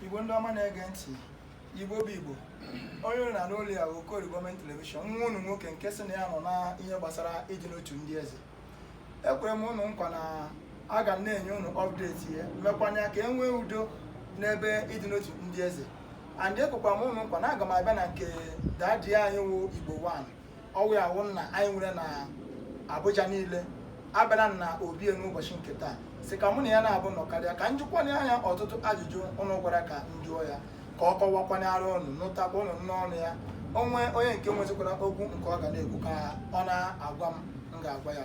igbo ndị ọma na-ege ntị igbo bụ igbo onye unu na-anụ olu ya bụ Okorie government television nwa unu nwoke nke sị na ya nọ na ihe gbasara ịdị n'otu ndị eze ekwere m unu nkwa na aga m na-enye unu update ya mekwanye ka e nwee udo n'ebe ịdị n'otu ndị eze and ekwekwa m unu nkwa na aga m abịa na nke daddy anyị wụ igbo 1 ọ wụ ya wụ nna anyị nwere na Abuja niile abịara m na obi n'ụbọchị nke taa sị ka mụ na ya naabọ nọkarịa ka m jụkwanye ya ọtụtụ ajụjụ ụnụ gwara ka m jụọ ya ka ọ kọwakwanyere ụnụ nụtakwa ụnụ n'ọnụ ya o nwee onye nke nwezikwara okwu nke ọ ga na-ekwu ka ọ na-agwa m m ga-agwa ya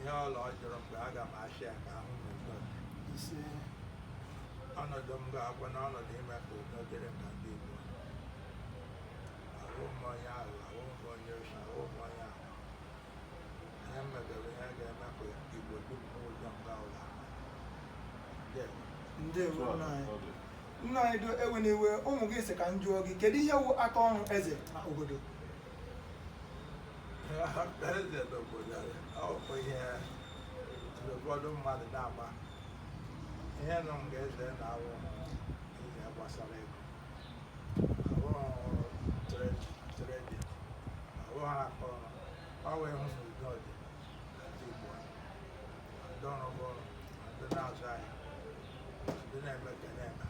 ihe ọbụla ọ jụrụ mgbe aga m achị ya ka ahụ m udo ise ọnọdụ m ga-abụ na ọnọdụ ime ka udo dịrị m na ndị Igbo ahụ m onye ahụ ahụ m onye oshi ahụ m onye ahụ ihe m mebere ihe ga-eme ka Igbo dum n'ụzọ m gaa ụlọ ndewo ndewo nna anyị Ọ dị. nna anyị do ewena iwe ụmụ gị sị ka m jụọ gị kedu ihe wụ aka ọrụ eze na obodo eze n'obodo ọkpụ ihe ụfọdụ mmadụ na-agba ihe nọ m ga-eze na-awụ ihe gbasara ego abụghị trade abụghị akọ ọ wee hụ na udo dị na ndị Igbo ndị ọrụ bụ ndị na-azụ ahịa ndị na-eme ka na-eme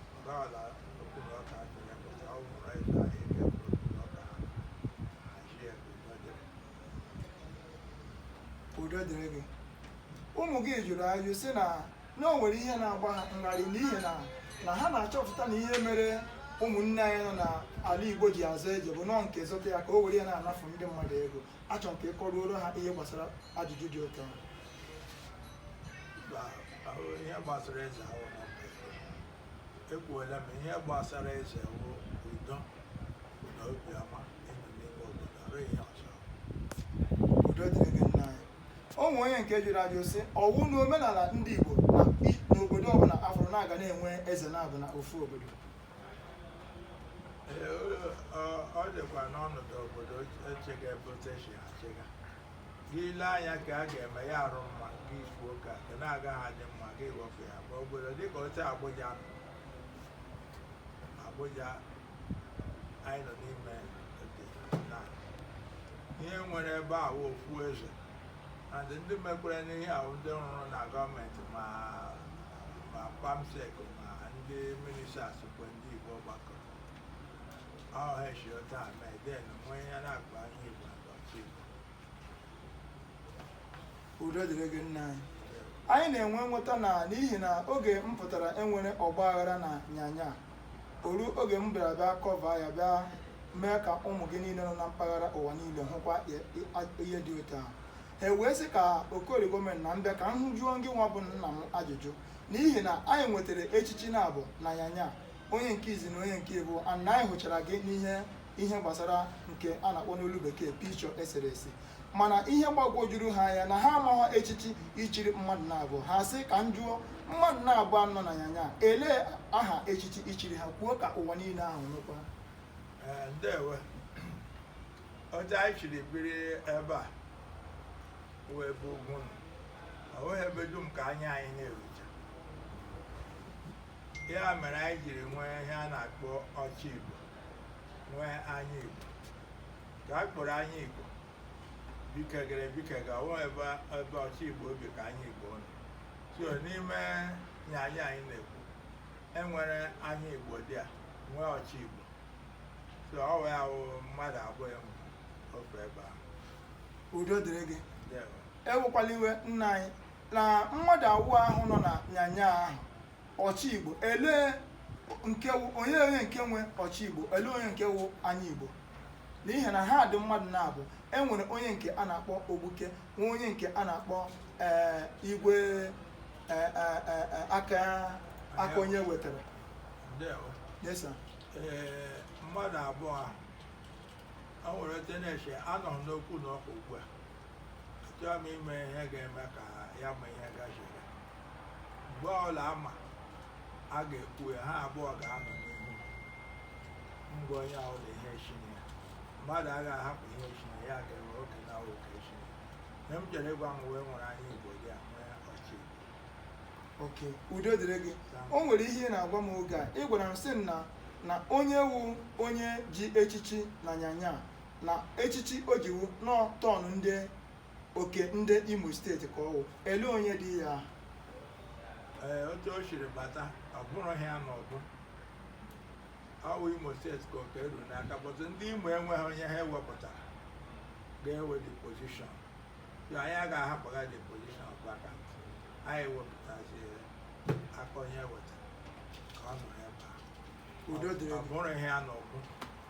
udo dịrị gị ụmụ gị jụrụ ajụ sị na na o nwere ihe na-agba ha ngharị n'ihi na na ha na-achọpụta na ihe mere ụmụnne anyị nọ n'ala Igbo ji azọ eze bụ nọọ nke zọta ya ka o were ya na-anafụ ndị mmadụ ego achọ m ka ị kọruoro ha ihe gbasara ajụjụ dị otu ahụ ihe gbasara eze ahụ ekwuola m ihe gbasara eze wụ udo na obiọma ịnọ n'ime obodo ọrụ ihe ọzọ udo dịrị gị nna anyị o nwere onye nke jụrụ ajụ sị ọ wụ na omenala ndị Igbo na i- n'obodo ọbụla a fụrụ na a ga na-enwe eze naabọ na ofu obodo Ee, ọ- ọ- ọ dịkwa n'ọnọdụ obodo echega ebe otu e si achịga gị ile anya ka a ga-eme ya adị mma gị ifu oke ka na-agaghị adị mma gị wepụ ya ma obodo dịka otu Abuja nọ Abuja anyị nọ n'ime dị na ihe e nwere ebe a wụ ofu eze and ndị mekwere ihe a wụ ndị rụrụ na government ma ma perm sec ma ndị ministers kwe ndị igbo gbakọrọ ọnụ shi otu a mee then nwee ihe na-akpa ihe igbo akpa udo dịrị gị nna anyị anyị na-enwe nghọta na n'ihi na oge m pụtara enwere ọgba aghara na nyanya o ru oge m bịara bịa cover ya bịa mee ka ụmụ gị niile nọ na mpaghara ụwa niile hụkwa ihe dị otu ahụ ha wee sị ka okori government na m bịa ka m jụọ ngị nwa bụ nna m ajụjụ n'ihi na anyị nwetara echichi na-abụọ na nyanya onye nke izi na onye nke abụọ na anyị hụchara gị n'ihe ihe gbasara nke a na-akpọ n'olu bekee picture eserese mana ihe gbagwojuru ha anya na ha amaghị echichi i chiri mmadụ na-abụọ ha sị ka m jụọ mmadụ na-abụọ nọ na nyanya elee aha echichi i chiri ha kwuo ka ụwa niile ahụ nụkwa Ee, ndewo otu anyị siri biri ebe a wụ ebe ugwu na ọ bụghị ebe dum ka anya anyị na-erucha ya mere anyị jiri nwee ihe a na-akpọ ọchị igbo nwee anya igbo ka a kpọrọ anya igbo bikegara ebikega ọ wụ ebe ebe ọchị igbo bi ka anya igbo nọ so n'ime nyanya anyị na-ekwu enwere anya igbo there nwee ọchị igbo so ọ wụ ha wụ mmadụ abụọ enwe ofe ebe ahụ udo dịrị gị Ndewo. ewekwala iwe nna anyị na mmadụ abụọ ahụ nọ na nyanya ahụ ọchị igbo elee nke wụ onye onye nke wụ ọchị igbo elee onye nke wụ anya igbo n'ihi na ha dị mmadụ na-abụọ e nwere onye nke a na-akpọ ogbuke nwee onye nke a na-akpọ ee, igwe ee, ee, ee, ee, aka aka onye wetara ndewo Yes, sir. ee mmadụ abụọ ahụ a nwere ote na-eche anọ m n'okwu na ọkụ ugbu a achọghị m ime ihe ga-eme ka ya ma ihe gachiri mgbe ọla ama a ga-ekwu ya ha abụọ ga-anọ n'ihu mgbe onye ahụ na ihe chinye ya mmadụ agaghị ahapụ ihe chinye ya ga-enwe oke na oke chinye ihe m chere ịgwa m wee nwere anya igbo there nwee ọchị okay udo dịrị gị o nwere ihe ị na-agwa m oge a ị gwara m sị m na na onye wụ onye ji echichi na nyanya na echichi o ji wụ na ọ turn ndị okay ndị imo state ka ọ wụ ele onye dị ya ahụ ee otu o siri bata ọ bụrụ ha na ọ bụ ọ wụ imo state ka oke ruru n'aka but ndị imo enweghị onye ha wepụtara ga-ewe the position so anyị agaghị ahapụga the position of vacant anyị wepụtazi aka onye wetara ka ọ nọrọ ebe a udo dịrị gị ọ bụrụ ihe a n'ọgụ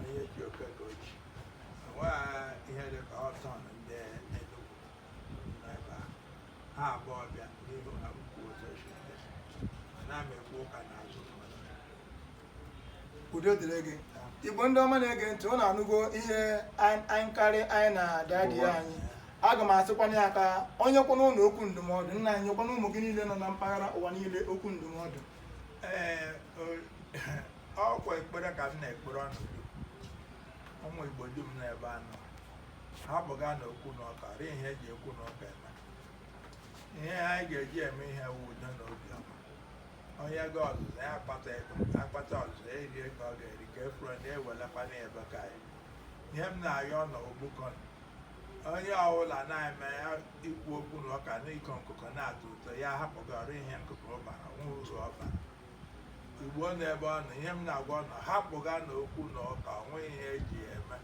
onye ji oke ka o ji enweghị ihe dị ka ọtọn ndị Enugu n'ebe a ha abụọ ọbịa n'ihu ha kwuo otu esi esi na m ekwu ụka n'azụ ka udo dịrị gị igbo ndị ọma na-ege ntị ụnụ anụgo ihe anyị anyị karị anyị na dadi anyị aga m asịkwana ya ka o nyekwana ụnụ okwu ndụmọdụ nna anyị nyekwana ụmụ gị niile nọ na mpaghara ụwa niile okwu ndụmọdụ ee o- ọkwa ekpere ka m na-ekpere ụnụ ụmụ igbo dum n'ebe a nọ hapụga na okwu na ụka rie ihe eji okwu na ụka eme ihe anyị ga-eji eme ihe wu udo na obiọma onye ga ọzụzụ ya akpata ego akpata ọzụzụ ya eri ego ọ ga-eri ka efuro na ewelekwa na ebe ka anyị ihe m na-ayọ ụnụ bikonụ onye ọbụla na-eme ya ikwu okwu na ụka na ịkọ nkụkọ na-atọ ụtọ ya hapụgara ihe nkụkọ ọbara nwụrụ ụzọ ọbara igbo n'ebe ọ nọ ihe m na-agwa ụnụ hapụga na okwu na ụka onweghị ihe eji ya eme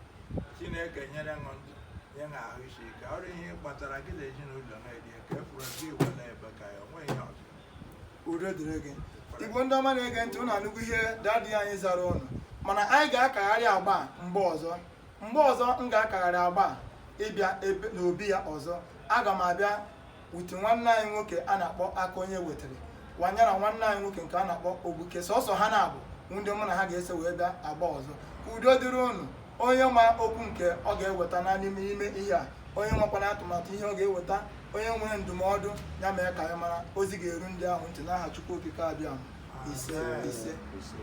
chineke nyere ụnụ ndụ nye ụnụ ahụ isi ike ọrụ ihe kpatara gị na ezinụlọ na-eri ka efuru gị iwe na-ebe ka ya onweghị ihe ọzọ udo dịrị gị igbo ndị ọma na-ege ntị ụnụ anụgo ihe dadị anyị zara ụnụ mana anyị ga-akagharị agba mgbe ọzọ mgbe ọzọ m ga-akagharị agba a ịbịa ebe n'obi ya ọzọ aga m abịa wute nwanne anyị nwoke a na-akpọ aka onye wetara wanyara nwanne anyị nwoke nke a na-akpọ ogbuke sọsọ ha naabọ wụ ndị mụ na ha ga-eso wee bịa agba ọzọ ka udo dịrị unu onye ma okwu nke ọ ga-eweta na n'ime ime ihe a onye nwekwana atụmatụ ihe ọ ga-eweta onye nwere ndụmọdụ ya mee ka anyị mara ozi ga-eru ndị ahụ ntị n'aha Chukwu Okike Abịama ise ise